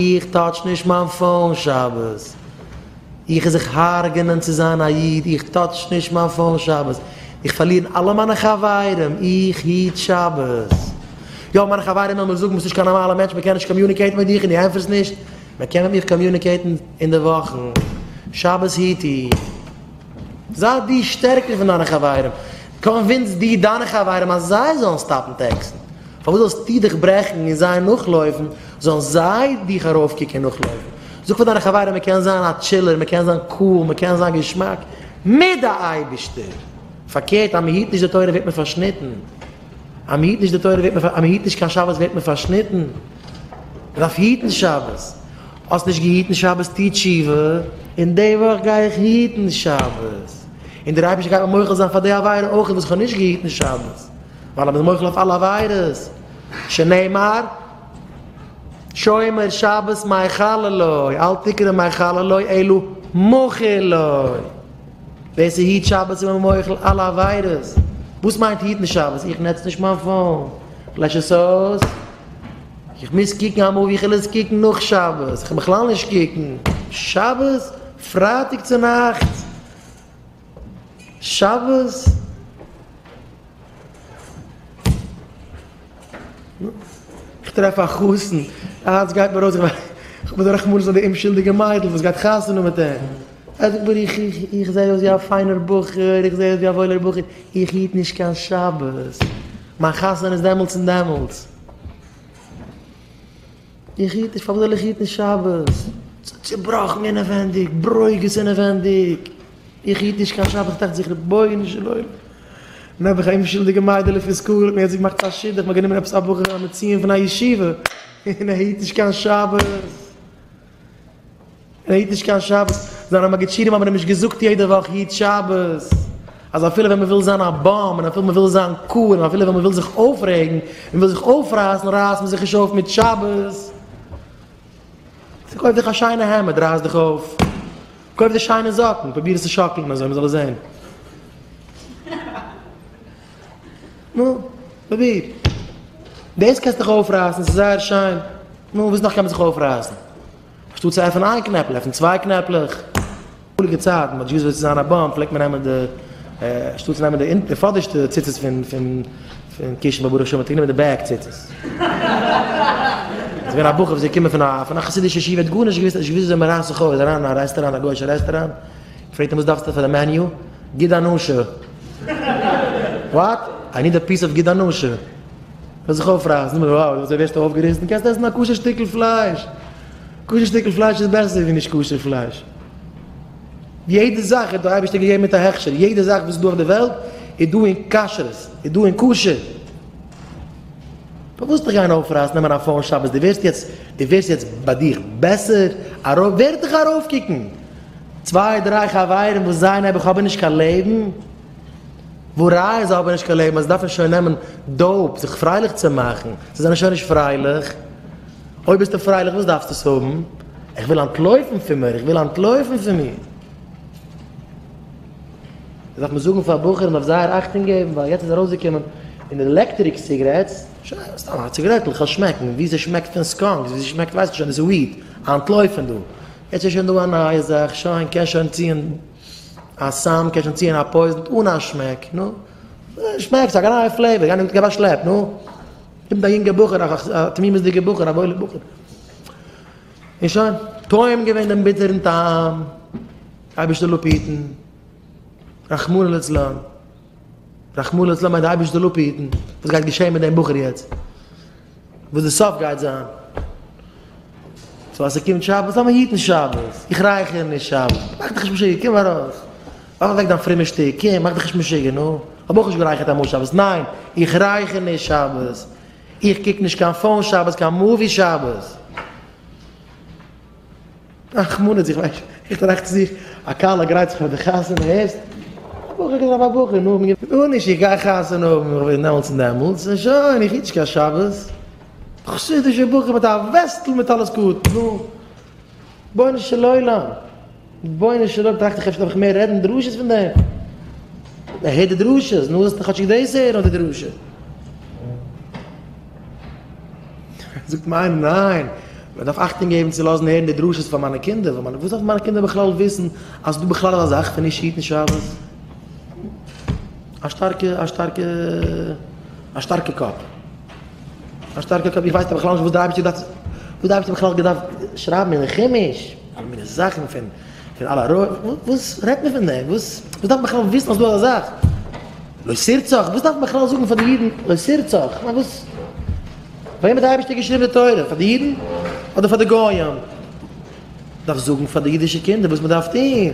איך טאטש נישט מיין פאון שבת, איך איז זיך הרג'ענען צו זיין א איד, איך טאטש נישט מיין פאון שבת, איך פארלירן אלע מיינע חברים, איך היט שבת, יא מיינע חברים וועלן מיר זאגן ביסט נישט קיין נארמאלע מענטש מען קען נישט קאמיוניקעיטן מיט דיך און די ענטפערסט נישט, מען קען מיט מיך קאמיוניקעיטן אינדערוואכן, שבת היט איך. זיי דו שטערקער פון דיינע חברים, קאנווינס דו דיינע חברים אז זיי זאלן סטאפן טעקסן, פארוואס זאלסטו דיך ברעכן און זיי נאכלויפן, זאלן זיי דיך ארויפקוקן און נאכלויפן, זאג פאר דיינע חברים מען קען זיין א טשילער, מען קען זיין קאל, מען קען זיין געשמאק מיט די אייבערשטער, פארקערט אז מען היט נישט די תורה ווערט מען פארשניטן, אז מען היט נישט די תורה ווערט מען, אז מען היט נישט קיין שבת ווערט מען פארשניטן, מען דארף היטן שבת, האסט נישט געהיטן שבת טו תשובה, און די וואך גיי איך היטן שבת, און דער אייבערשטער גייט מיר מוחל זיין פאר די עבירה אויך וואס איך האב נישט געהיטן שבת, ווייל ער איז מוחל אויף אלע עבירות, שנאמר, שומר שבת מיחלה לו, אל תקרא מיחלה לו אלא מוחל לו, ווער ס'היט שבת איז מען מוחל אלע עבירות, וואס מיינט היטן שבת? איך נוץ נישט מיין פאון, לעש עס אויס. איך מוז קוקן א מאווי, כ'על עס קוקן נאך שבת, כ'על בכלל נישט קוקן שבת, פרייטאג צו נאכטס, שבת. כ'טרעף א חתן, היינט גייט מען ארויס, כ'בין א רחמנות אויף די אומשולדיגע מיידל וואס גייט חתונה מיט אים, ער זאגט מיר איך איך איך זע אויס ווי א פיינער בחור, איך זע אויס ווי א וואוילער בחור, איך היט נישט קיין שבת, מיין חתונה איז דעמאלטס און דעמאלטס. איך היט נישט, פארוואס זאל איך היטן שבת? ס'איז צובראכן אינעווענדיג, ברוגז אינעווענדיג, איך היט נישט קיין שבת, כ'דאכט זיך רבונו של עולם, און אויב איך א אומשולדיגע מיידעלע פון סקול האט מיר יעצט געמאכט א שידוך, מ'האט גענומען עפעס א בחור א מצוין פון א ישיבה, און ער היט נישט קיין שבת. ער היט נישט קיין שבת. זיינע מגידשינים האבן אים נישט געזאגט יעדע וואך היט שבת, אז אפילו ווען מען וויל זיין א באם, און אפילו מען וויל זיין קאל, און אפילו ווען מען וויל זיך אויפרעגן, און וויל זיך אויפרייסן, רייסט מען זיך נישט אויף מיט שבת. צו קויף דיך א שיינע העמד, רייס דיך אויף. קויף דיר שיינע זאקן, פרוביר עס צו שאקלן אזוי מען זאל עס זען. נו, פרוביר. דאס קענסטו דיך אויפרייסן, ס'איז זייער שיין. נו, וואס נאך קען מען זיך אויפרייסן? אנשטאט צו עפענען איין קנעפל, עפן צוויי קנעפלעך. אמאליגע צייטן, מ'האט נישט געוואוסט וואס צו זיין א באם, פלעגט מען נעמען די, אנשטאט צו נעמען די פאדערשטע ציצית פון קישן, ברוך השם האט גענומען די בעק ציצית. ס'איז געווען א בחור וואס איז געקומען פון א חסידישע ישיבה, ער האט גארנישט געוואוסט, ער האט נישט געוואוסט וויאזוי מ'רייסט זיך אויס, אריין אין א רעסטוראנט, א גוי'אישע רעסטוראנט, פרעגט אים וואס דארפסטו פאר די מעניו? גיד הנשה! וואט? איי ניד א פיס אוו גיד הנשה! זאל זיך אויפרייסן, נאר וואו אזוי ווערסטו אויפגעריסן? קענסט עסן א כשר שטיקל פלייש! כשר שטיקל פלייש איז בעסער ווי נישט כשר פלייש! יעדע זאך האט דער אייבערשטער געגעבן מיט א הכשר, יעדע זאך וואס איז דא אויף די וועלט איז דא אין כשרות, איז דא אין כשר! פארוואס זיך גיין אויפרייסן נעמען א פאון שבת? דו ווערסט יעצט, דו ווערסט יעצט ביי דיך בעסער? ארויף, ווער וועט דיך ארויפקוקן? צוויי דריי חברים וואס זיי נעבעך האבען נישט קיין לעבן, ווארייען זיי האבען נישט קיין לעבן אז זיי דארפען שוין נעמען דאופ זיך פרייליך צו מאכען, זיי זענען שוין נישט פרייליך, אויב ביסטו פרייליך וואס דארפסטו עס האבען? איך וויל אנטלויפען פון מיר, איך וויל אנטלויפען פון מיר. דאס דארף מען זאגען פאר בחורים אויף זייער אכטונג געבען ווייל יעצט איז ארויסגעקומען אין די עלעקטריק סיגרעטס, שוין סתם א ציגרעטל, כ'העל שמעקען ווי ס'שמעקט פון סקאנקס, ווי ס'שמעקט ווייס איך שוין איז וויד, אנטלויפען דא. יעצט איז שוין דא א נייע זאך, שוין קען שוין ציען א סם, קען שוין ציען א פויזן אן א שמעק, נו, שמעק ס'איז א געניי פלעיווער, גיי נישט גיב א שלעפ, נו, קומט א יונגע בחור, א תמימות'דיגע בחור, א וואוילע בחור, און שוין, טועם געווען דעם ביטערן טעם, אייבערשטער לאפיטן, רחמנא לצלן, רחמנא לצלן מיינט אייבערשטער לאפיטן, וואס גייט געשען מיט דעם בחור יעצט? וואס די סוף גייט זיין. סאו אז ס'קומט שבת זאל מען היטן שבת. איך רייכער נישט שבת. מאך דיך נישט משוגע, קום ארויס. ווארף אוועק דיין פרומע שטיק, קום, מאך דיך נישט משוגע, נו. איך האב אויך נישט גערייכערט אמאל שבת. ניין, איך רייכער נישט שבת. איך קוק נישט קיין פאון שבת, קיין מאווי שבת. רחמנות, איך ווייס, איך טראכט צו זיך, א כלה גרייט זיך פאר די חתונה, הערסט? א בחור קען זיין א בחור, נו, גארנישט, איך גיי חתונה האבן, איך בין דעמאלטס און דעמאלטס, און שוין, איך היטש קיין שבת, א חסידישע בחור מיט א וועסטל מיט א לוסקוט, נו, רבונו של עולם. רבונו של עולם טראכט איך אפשר דארף איך מער רעדן דרשות פון דעם, ער הערט די דרשות, נו זאלסטו כאטשיג דאס הערן אדער די דרשה. זאגט מיר איינער ניין, מען דארף אכטונג געבן צו לאזן הערן די דרשות פאר מיינע קינדער, ווייל מיינע וואס דארפן מיינע קינדער בכלל וויסן אז ס'דא בכלל אזא זאך פון נישט היטן שבת? א שטארקע א שטארקע א שטארקע קאפ. א שטארקע קאפ, איך ווייס בכלל נישט וואס די אייבערשטער דארף, וואס די אייבערשטער האט בכלל געדארפט שרייבן אין חומש, אלע מיני זאכן פון פון אלע רויע, וואס רעדט מען פון דעם, וואס וואס דארף מען בכלל וויסן אז דא איז א זאך, לא שירצוך, וואס דארף מען בכלל זאגן פאר די אידן לא שירצוך, כ'מיין וואס, פאר וועם האט די אייבערשטער געשריבן די תורה, פאר די אידן אדער פאר די גויים, דארף זאגן פאר די אידישע קינדער וואס מען דארף טון.